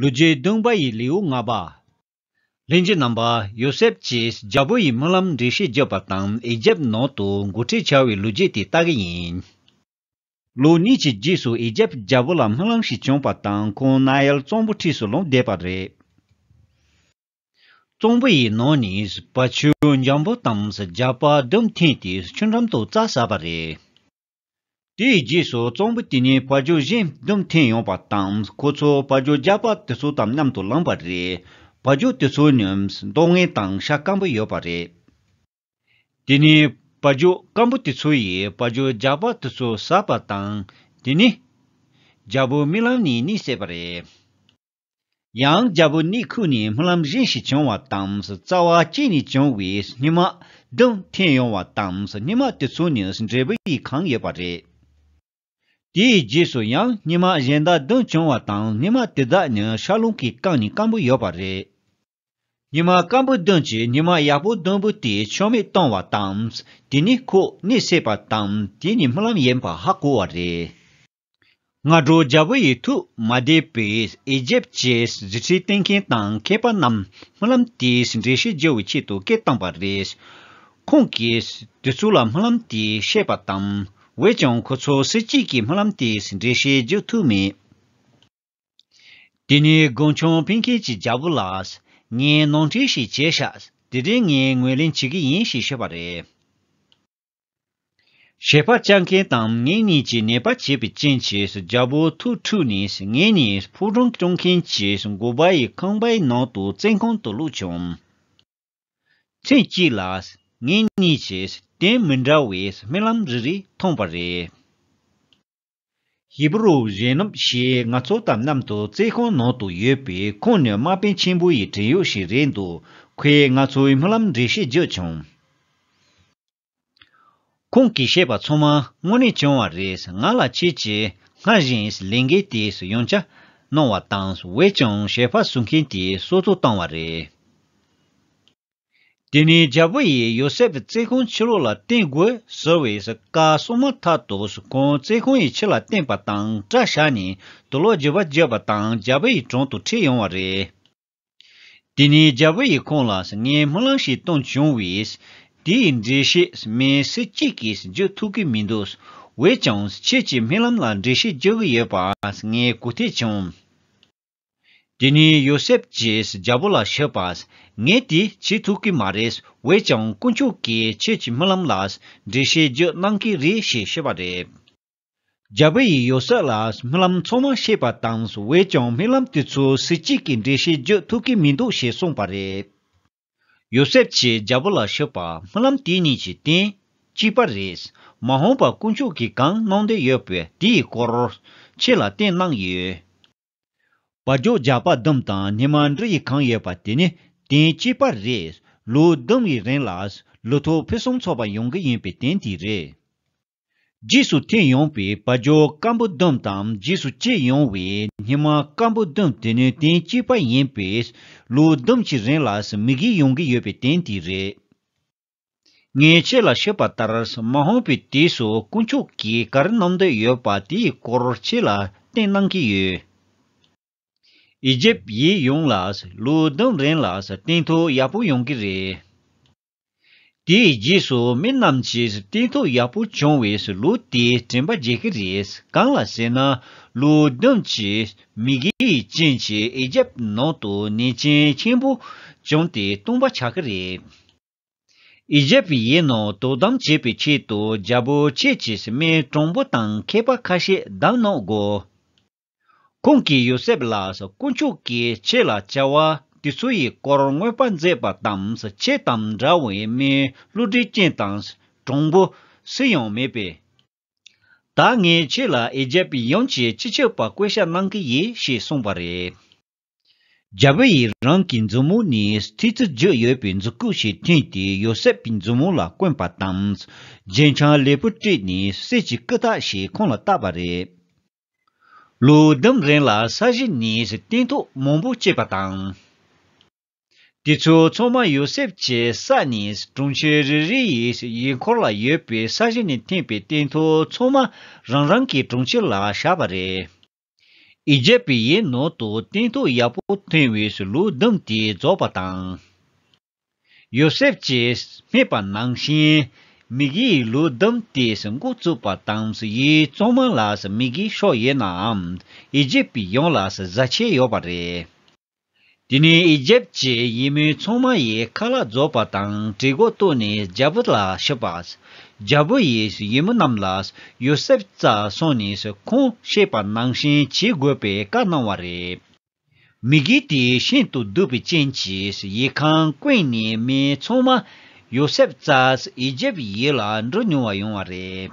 ལུས་རྗེའི་གདུང་བ་ཡི་ལེའུ་ལྔ་པ། ལྷན་གྱི་རྣམ་པ་ཡོ་སེབ་ཀྱིས་རྒྱལ་པོ་ཡི་སྨོན་ལམ་འགྲེལ་བཤད་བརྒྱབ་པ་དང་ཨེ་ཇེབ་ནང་དུ་མགོ་ཁྲིད་བྱ་བའི་ལུས་རྗེ་དེ་ལྟ་གི་ཡིན། ལོ་གཉིས་ཀྱི་རྗེས་སུ་ཨེ་ཇེབ་རྒྱལ་པོ་ལ་སྨོན་ལམ་ཞིག་བྱུང་བ་དང་ཁོང་ན་ཨེལ་གཙང་པོ་འཁྲིས་སུ་ལོག་བསྡད་པ་རེད། གཙང་པོ་ཡི་ནང་ནས་བ་ཆུ་འཇམ་པོ་དང་རྒྱ་པ་བདུན་འཐེན་ཏེ་ཆུ་འགྲམ་དུ་རྩྭ་ཟ་བ་རེད། དེའི་རྗེས་སུ་གཙང་པོ་དེ་ཉིད་བར་སྦྱོར་གཞན་བསྡོམས་ཐེངས་ཡོང་བ་དང་ཁོ་ཚོ་བར་སྦྱོར་རྒྱག་པ་དེ་ཚོ་དང་མཉམ་དུ་ལངས་པ་རེད། བར་སྦྱོར་དེ་ཚོ་ནི་མདོག་ངན་དང་ཤ་སྐམ་པོ་ཡོད་པ་རེད། དེ་ནི་བར་སྦྱོར་སྐམ་པོ་དེ་ཚོ་ཡིས་བར་སྦྱོར་རྒྱག་པ་དེ་ཚོ་ཟ་བ་དང་དེ་ནི་རྒྱལ་པོའི་རྨི་ལམ་ནས་གཉིད་སད་པ་རེད། ཡང་རྒྱལ་པོ་ནི་ཁུག་ནས་སྨོན་ལམ་གཞན་ཞིག་བྱུང་བ་དང་རྩ་བ་གཅིག་ནས་བྱུང་བའི་སྙེ་མ་དུམ་ཐེངས་ཡོང་བ་དང་སྙེ་མ་དེ་ཚོ་ནི་འབྲས་བུ་ཡིས་གང་ཡོད་པ་རེད། དེའི་རྗེས་སུ་ཡང་སྙེ་མ་གཞན་དག་བདུན་བྱུང་བ་དང་སྙེ་མ་དེ་དག་ནི་ཤར་རླུང་གིས་བཀང་ནས་སྐམ་པོ་ཡོད་པ་རེད། སྙེ་མ་སྐམ་པོ་བདུན་གྱིས་སྙེ་མ་ཡག་པོ་བདུན་པོ་དེ་ཆོ་མེད་བཏང་བ་དང་དེ་ནི་ཁུག་ནས་བསྲེགས་པ་དང་དེ་ནི་སྨོན་ལམ་ཡིན་པ་ཧ་གོ་བ་རེད། སྔ་དྲོ་རྒྱལ་པོ་ཡི་ཐུགས་མ་བདེ་བས་ཨེ་ཇེབ་ཀྱི་གཟི་ཁྲི་བསྟན་མཁན་དང་མཁས་པ་རྣམས་སྨོན་ལམ་དེའི་འགྲེལ་བཤད་བརྗོད་པའི་ཆེད་དུ་སྐད་བཏང་བ་རེད། ཁོང་གིས་དེ་ཚོ་ལ་སྨོན་ལམ་དེ་བཤད་པ་དང། འོད་ཀྱང་ཁོ་ཚོ་སུ་གཅིག་གིས་སྨོན་ལམ་དེའི་འགྲེལ་བཤད་བརྗོད་ཐུབ་མེད། དེ་ནས་དགུང་ཆོངས་ཕེན་ཁེ་ཅིས་རྒྱལ་པོ་ལ། ངས་ནང་འཁྲིད་ཞིག་བྱས་ཤག་དེ་རིང་ངས་ངོས་ལེན་བྱེད་ཀྱི་ཡིན་ཞེས་བཤད་པ་རེད། ཞེས་པ་ལྕགས་མཁན་དང་ངེད་གཉིས་ཀྱིས་ནད་པ་བྱེད་པའི་རྐྱེན་གྱིས་རྒྱལ་པོ་ཐུགས་འཁྲུགས་ནས་ངེད་གཉིས་ཕུག་རོན་སྐྱོང་མཁན་གྱི་མགོ་པ་ཡི་ཁང་པའི་ནང་དུ་བཙན་ཁང་དུ་བླུགས་བྱུང། ཚེས་གཅིག་ལ་ངེད་གཉིས་ཀྱིས་དེ་མི་འདྲ་བའི་རྨི་ལམ་རེ་རེ་མཐོང་བ་རེད། ཧི་པི་རུ་གཞུང་རྣམས་ཞེས་ང་ཚོ་དང་མཉམ་དུ་རྩེད་ཁང་ནང་དུ་ཡོད་པའི་ཁོང་ནི་དམག་དཔོན་ཆེན་པོ་ཡི་བྲན་གཡོག་ཞིག་རེད་འདུག་ཁོས་ང་ཚོའི་སྨོན་ལམ་འགྲེལ་བཤད་བརྒྱུད་བྱུང། ཁོང་གིས་བཤད་པ་ཚང་མ་དངོས་གནས་བྱུང་བ་རེད་ང་ལ་ཁྱེད་ཀྱིས་སྔར་བཞིན་ལས་འགན་དེ་ཡོངས་ཆ་གནང་བ་དང་བོད་ཀྱང་ཞལ་འཕགས་ཟུར་མཁན་དེ་གསོལ་བསྩོལ་བཏང་བ་རེད། དེ་ནས་རྒྱལ་པོ་ཡིས་ཡོ་སེབ་བརྩེ་གོང་ཕྱི་ལོགས་ལ་བསྟན་དགོས་ཟེར་བས་བཀའ་གསུང་མ་ཐག་ཏུ་གོང་བརྩེ་གོང་ཡི་ཕྱི་ལ་བསྟན་པ་དང་སྐྲ་བཞར་ནས་དུ་ལོག་རྗེས་པ་བརྒྱད་པ་དང་རྒྱལ་པོ་ཡི་དྲུང་དུ་ཁྲིད་ཡོང་བ་རེད། དེ་ནས་རྒྱལ་པོ་ཡིས་ཁོང་ལ་ངས་སྨོན་ལམ་ཞིག་གཏོང་བྱུང་བས། དེ་ཡི་འགྲེལ་བཤད་མི་སུ་གཅིག་གིས་བརྗོད་ཐུབ་ཀྱི་མི་འདུག་འོས་ཀྱང་ཁྱེད་ཀྱི་སྨོན་ལམ་ལ་འགྲེལ་བཤད་རྒྱག་གི་ཡོད་པ་ངས་གོ་ཐེག་བྱུང། དེ་ནས་ཡོ་སེབ་ཀྱིས་རྒྱལ་པོ་ལ་ཞུས་པ། ངས་དེ་བྱེད་ཐུབ་ཀྱི་མ་རེད་འོས་ཀྱང་དཀོན་མཆོག་གིས་ཁྱེད་ཀྱི་རྨི་ལམ་ལ་འགྲེལ་བཤད་རྒྱུ་གནང་གི་རེད་ཞེས་ཤོད་པ་རེད། རྒྱལ་པོ་ཡིས་ཡོ་སེབ་ལ་རྨི་ལམ་ཚང་མ་བཤད་པ་དང་འོས་ཀྱང་རྨི་ལམ་དེ་ཚོའི་གཟི་བརྗིད་ཀྱི་འགྲེལ་བཤད་རྒྱུ་ཐུབ་ཀྱི་མི་འདུག་ཞེས་གསུངས་པ་རེད། ཡོ་སེབ་ཀྱིས་རྒྱལ་པོ་ལ་ཤོད་པ་སྨོན་ལམ་དེ་གཉིས་ཀྱི་སྟེང་གཅིག་པ་རེད། མ་འོངས་པར་དཀོན་མཆོག་གིས་གང་གནང་འདོད་ཡོད་པའི་དེ་ཡི་སྐོར་ཁྱེད་ལ་བསྟན་གནང་ཡོད། བ་རྒྱོ་རྒྱ་པ་ལྡུམ་དང་ཉི་མ་འབྲུ་ཡིས་གང་ཡོད་པ་དེ་ནི་སྟེང་གཅིག་པ་རེད། ལོ་ལྡུམ་ཡི་རིང་ལ་ལུ་ཐོ་ཕུན་སུམ་ཚོགས་པ་ཡོང་གི་ཡིན་པའི་སྟེང་དེ་རེད། རྗེས་སུ་འཐེན་ཡོང་པའི་བ་སྦྱོར་སྐམ་པོ་ལྡུམ་དང་རྗེས་སུ་སྐྱེས་ཡོང་བའི་སྙེ་མ་སྐམ་པོ་ལྡུམ་དེ་ནུས་ལྡན་སྐྱེས་པ་ཡིན་པས་ལོ་ལྡུམ་གྱི་རིང་ལ་མི་བགྱིད་ཡོང་གི་ཡོད་པའི་དོན་དེ་རེད། ངས་ཁྱེད་ལ་ཤོད་པ་ལྟར་མ་ཧོང་པའི་དུས་སུ་དཀོན་མཆོག་གིས་ག་རེ་གནང་འདོད་ཡོད་པ་དེའི་སྐོར་ཁྱེད་ལ་བསྟན་གནང་གི་ཡོད། ཨི་ཇིབ་ཡིག་ཡོངས་ལ་ལོ་ལྡུམ་རིང་ལ་བརྟན་ཐོག་ཡག་པོ་ཡོང་གི་རེད། དེའི་རྗེས་སུ་མི་རྣམས་ཀྱིས་བརྟན་ཐོག་ཡག་པོ་བྱུང་བའི་ལུགས་དེ་དྲན་པ་བརྗེད་ཀྱི་རེད། གང་ལ་ཟེར་ན། ལུགས་བདུན་གྱི་མི་སྒེར་ཅན་གྱི་ཨེ་རྒྱབ་ནང་དུ་ནད་ཅན་ཆེན་པོ་བྱུང་སྟེ་སྟོང་པ་ཆགས་ཀྱི་རེད། ཨེ་རྒྱབ་ཡའི་ནང་དོ་དམ་བྱེད་པའི་ཆེད་དུ་རྒྱ་བོད་ཕྱེད་ཀྱིས་སྨན་གྲངས་འབོར་དང་མཁས་པ་ཁ་ཤས་བདམས་གནང་དགོས། ཁོང་གིས་ཡོ་སེབ་ལ་དཀོན་མཆོག་གིས་ཁྱེད་ལ་བྱ་བ་དེ་ཚོའི་སྐོར་མངོན་པར་མཛད་པ་དང་ཁྱེད་དང་འདྲ་བའི་མིའི་བསླུ་བྲིད་ཅན་དང་གྲོང་པོ་སུ་ཡང་མེད་པས། ད་ངས་ཁྱེད་ལ་ཨེ་ཇེབ་ཡོངས་ཀྱི་སྤྱི་ཁྱབ་པ་བསྐོས་བཞག་གནང་གི་ཡིན་ཞེས་གསུངས་པ་རེད། རྒྱལ་པོ་ཡིས་རང་གི་མཛུབ་མོ་ནས་ཐིག་རྩི་བརྗོད་ཡོད་པའི་མཛུབ་གུག་ཞིག་འཐེན་ཏེ་ཡོ་སེབ་ཀྱི་མཛུབ་མོ་ལ་བསྐོན་པ་དང་རྗེས་འཆང་ལེགས་པོ་སྤྲད་ནས་གསེར་གྱི་སྐུ་དག་ཞིག་ཁོང་ལ་བཏགས་པ་རེད། ལོ་ཟླུམ་རིང་ལ་ས་གཞི་ནས་སྟན་ཐོག་མང་པོ་སྐྱེས་པ་དང། དེ་ཚོ་ཚང་མ་ཡོ་སེབ་ཀྱི་ས་ནས་གྲོང་ཁྱེར་རེ་རེ་ཡི་ཡི་འཁོར་ལ་ཡོད་པའི་ས་གཞི་ནས་འཐེན་པའི་སྟན་ཐོག་ཚང་མ་རང་རང་གི་གྲོང་ཁྱེར་ལ་བཞག་པ་རེད། ཨི་ཇེབ་པི་ཡི་ནང་དུ་སྟན་ཐོག་ཡག་པོ་འཐེན་བའི་ལོ་ཟླུམ་དེ་རྫོགས་པ་དང། ཡོ་སེབ་ཅེས་སྨྲས་པ་ནང་བཞིན། མིག་གིས་ལུས་བསྡོམས་ཏེ་མགོ་བཙུགས་པ་དང་ཡུལ་གཙང་མ་ལ་མི་དགེའི་ཕྱོགས་ཡོད་ནའང་ཨི་ཇིབ་པའི་ཡོངས་ལ་བཟའ་ཆས་ཡོད་པ་རེད། དེ་ནས་ཨི་ཇིབ་ཀྱི་ཡིད་མོས་ཚོང་མ་ཡིས་ཁ་ལག་རྫོགས་པ་དང་གྲི་གུག་བཏུགས་ནས་རྒྱལ་པོ་ལ་ཕྱིན་པ། རྒྱལ་པོ་ཡིས་ཡུལ་མི་རྣམས་ལ་ཡོ་སེབ་རྩྭ་སོང་ནས་ཁོང་ཤེས་པ་ནང་བཞིན་བྱེད་དགོས་པའི་བཀའ་གནང་བ་རེད། མི་དགེ་དེ་ཤིན་ཏུ་གདུག་པའི་རྐྱེན་གྱིས་ཡིད་ཁང་ཀུན་ནས་མི་ཚང་མ། ཡོ་སེབ་ཙཱས་ཨི་ཇིབ་ཡིད་ལ་འགྲོ་མྱོང་བ་ཡོང་བ་རེད།